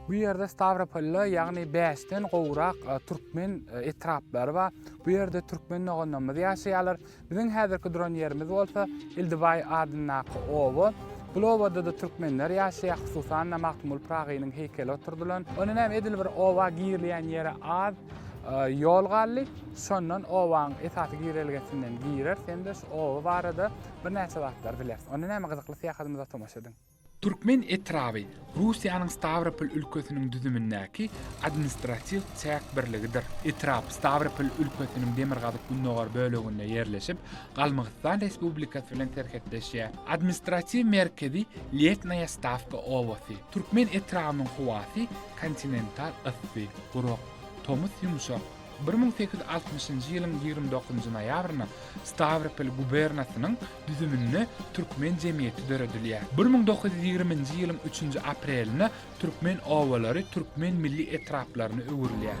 Bu ýerde Stawropolda, ýagny bäşden gowrak türkmen etraplary bar. Bu ýerde türkmen doganlarymyz ýaşaýarlar. Biziň häzirki duran ýerimiz bolsa Ildibaý adyndaky oba. Bul obada-da türkmenler ýaşaýar, hususan-da Magtymguly Pyragynyň heýkeli oturdylan. Onda näme, edil bir oba girilýän ýere az ýol galdy. Şondan obanyň esasy girelgesinden gireris hem-de şu oba barada birnäçe zatlar bileris. Onda näme, gyzykly syýahatymyza tomaşa ediň. Türkmen etraby Russiýanyň Stawropol ülkesiniň düzümindäki administratiw çäk birligidir. Etrap Stawropol ülkesiniň demirgazyk-gündogar böleginde ýerleşip, Galmygystan Respublikasy bilen serhetleşýär. Administratiw merkezi Lesnaýa Stawka obasy. Türkmen etrabynyň howasy kontinental yssy, gurak, tomus ýumşak. Bir müň sekiz ýüz altmyşynjy ýylyň ýigrimi dokuzynjy noýabrynda Stawropol gubernasynyň düzüminde türkmen jemgyýeti döredilýär. Bir müň dokuz ýüz ýigriminji ýylyň üçünji aprelinde türkmen obalary türkmen milli etraplaryna öwrülýär.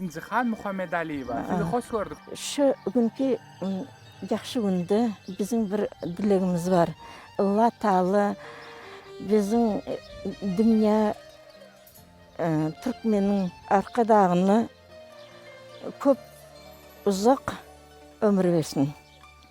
Injihan Muhammedaliýewa, sizi hoş gördük! Şu günki ýagşy günde biziň bir dilegimiz bar. Alla Taala biziň dünýä türkmeniň Arkadagyna köp uzak ömür bersin.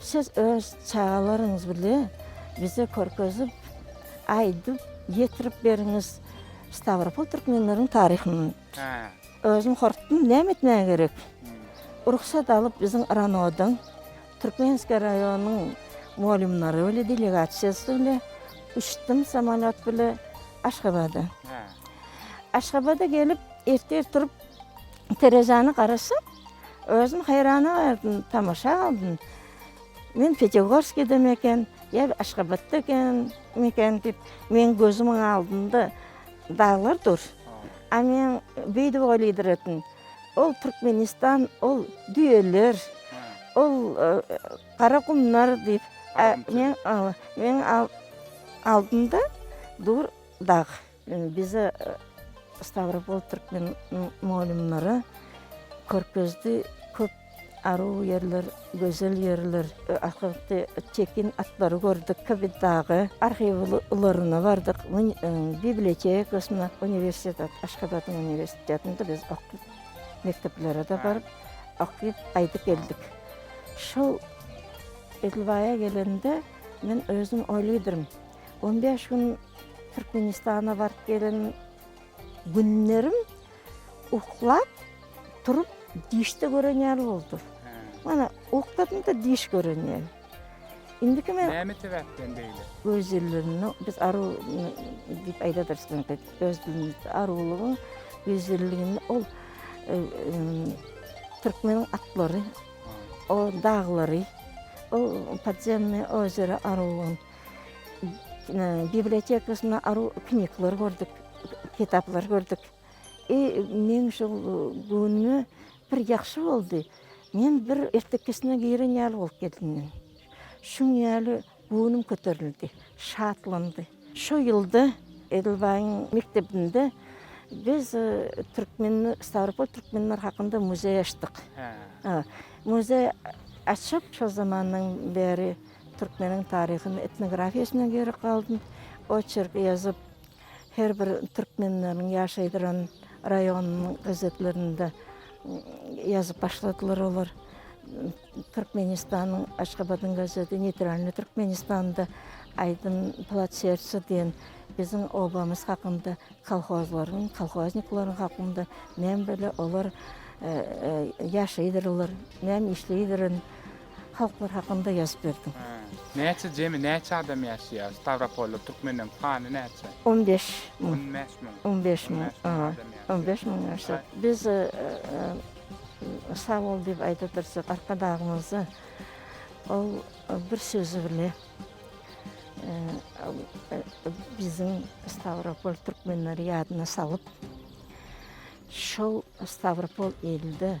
Siz öz çagalaryňyz bile bize körkezip, aýdyp, ýetirip beriňiz Stawropol türkmenleriň taryhyny. Hä. Özüm hortdum, näme etmäge gerek? Rugsat alyp biziň RANO-dan Türkmenskiý raýonyň mugallymlary bile delegasiýasy bile uçdum samolýot bile Aşgabada. Hä. Aşgabada gelip ertir turup Terezäni garaşyp, özüm haýrana galdym, tamaşa galdym. Men Petergorskidemi eken, ýa Aşgabatda ekenmi eken diýip, meň gözümiň aldynda daglar dur. A men beýdip oýlydyr edim. Ol Türkmenistan, ol düýeler, ol gara gumlar diýip, meň, meň aldymda dur dag. Bize Stawropol türkmen mugallymlara Körpezde köp aruw ýerler, gözel ýerler, ahyrky çekin atlary gördük, Kybyd dagy, arhiw ularyna bardyk, bibliotekasyna, uniwersitete, Aşgabadyň uniwersitetinde biz okduk, mekdeplere-de baryp, okyp, gaýdyp geldik. Şol edil baýa gelende men özüm oýlydyryn, On bäş gün Türkmenistana baryp gelen günlerim uklap, turup, dişde gören ýaly boldy. Mana, ukladym-da diş gören ýaly. Indiki men... Näme sebäpden beýle? Göz ýyllygyny, biz aru diýip aýdadyrys bunu, öz dilimizde arulygyň göz ýyllygyny ol e, e, türkmeniň atlary, o daglary, o podzenny ozera arulygyny bibliotekasyna aru kniglar gördük, kitaplar gördük. I meň şol göwnüme bir ýagşy boldy. Men bir ertekisine giren ýaly bolup geldim men. Şuň ýaly göwnüm köterildi, şatlandy. Şo ýylda Edilbaýyň mekdebinde biz türkmen Stawropol türkmenleri hakynda muzeý açdyk. Muzeý açyp, şo zamandan bäri Türkmeniň taryhyny etnografiýasyna gerek galdym. Oçerk ýazyp, her bir türkmenleriň ýaşaýdyran raýonynyň gazetlerinde ýazyp başladylar olar. Türkmenistanyň Aşgabadyň gazeti Neytralnyý Türkmenistanda aýdym Plac serca diýen biziň obamyz hakynda, kolhozlaryň, kolhoznikleriň hakynda näme bile olar ýaşaýdyrylar, näme işleýdirin. halklar hakynda ýazyp berdim. Näçe jemi näçe adam ýaşaýar Stawropolda türkmenleriň sany näçe? On bäş müň. On bäş müň. On bäş müň. On bäş müň ýaşaýar. Biz sag bol diýip aýdadyrjak Arkadagymyza ol bir sözi bile biziň Stawropol türkmenleri ýadyna salyp şol Stawropol ilde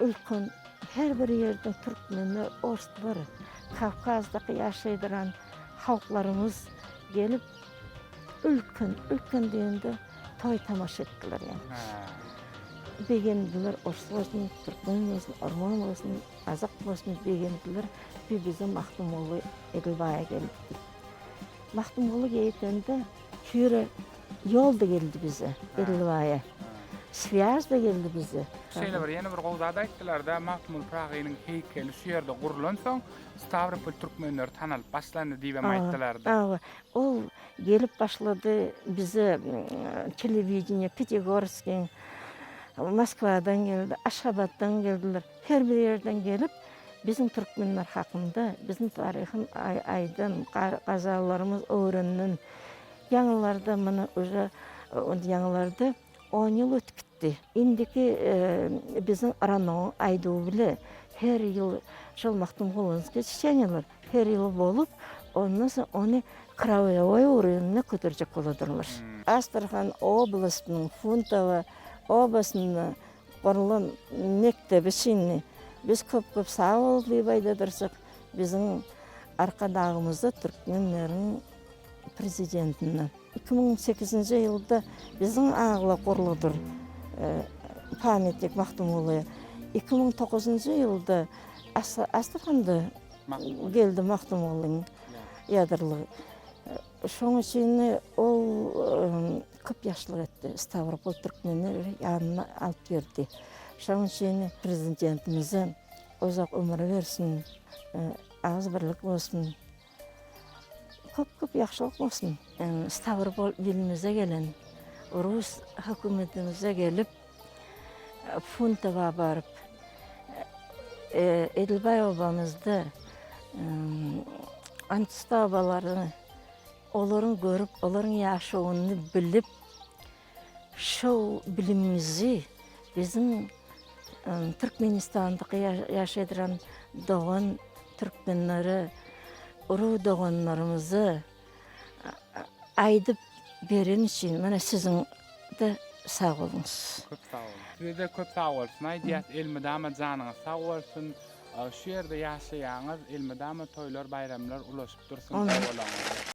Ülkan her bir ýerde türkmenler ors bir kawkazdaky ýaşaýdyran halklarymyz gelip ülken ülken diýende toý tamaşa etdiler ýaly. Begendiler ors bolsun türkmen bolsun orman bolsun gazak bolsun begendiler bir bize Magtymguly Edilbaýa gelipdi. Magtymguly geýdende Süre ýol-da geldi bize, Dilrubaýa. Swýaz-da geldi bize. Şeýle bir ýene bir gowy zat aýtdylar-da, Magtymguly Pyragynyň heýkeli şu ýerde gurlansoň, Stawropol türkmenleri tanalyp başlandy diýibem aýtdylar-da. Hawa, ol gelip başlady bize telewideniýe, Pitigorskyň, Moskwadan geldi, Aşgabatdan geldiler. Her bir ýerden gelip biziň türkmenler hakynda, biziň taryhym aýdan, gazalylarymyz öwrenden. Ýaňylarda muny uje indi ýaňylarda on ýyl ötüp gitdi. Indiki biziň Ranoň aýduwy bile her ýyl şol Magtymgulynyňky çeçeniýalar her ýyl bolup, ondan soň ony kraýowa öwrenine köterjek boladyrmyş. Astrahan oblastynyň Funtowa obasynda Gurlan mekdebi çyndy. Biz köp köp sag bol diýip aýdadyrjyk biziň Arkadagymyza türkmenleriň prezidentine. Iki müň sekizinji ýylda biziň agla gurludyr pamyatnik Magtymgulyýa. Iki müň toguzynjy ýylda Astrahanda geldi Magtymgulyň ýadyrlygy. Şoň üçin ol. Köp ýaşlyk etdi. Stawropol türkmenleri ýanyna alyp ýördi. Şonuň üçin Prezidentimize uzak ömür bersin, agzybirlik bolsun, köp-köp ýagşylyk bolsun. Stawropol ilimize gelen rus hökümetimize gelip, Funtowa baryp, Edilbaý obamyzda ant-stawbalaryny, Olaryň görüp, olaryň ýaşawyny bilip, şu bilimimizi biziň Türkmenistanda ýaşadyran dogan türkmenlere, urug-doganlarymyza aýdyp beren üçin mana siziň-de sag boluň. Köp sag boluň. Size-de köp sag bolsun aýdýas. Elmydama janyňyz sag bolsun. Şu ýerde ýaşaýaňyz, elmydama toýlar-baýramlar ulaşyp dursun ogulaňyza.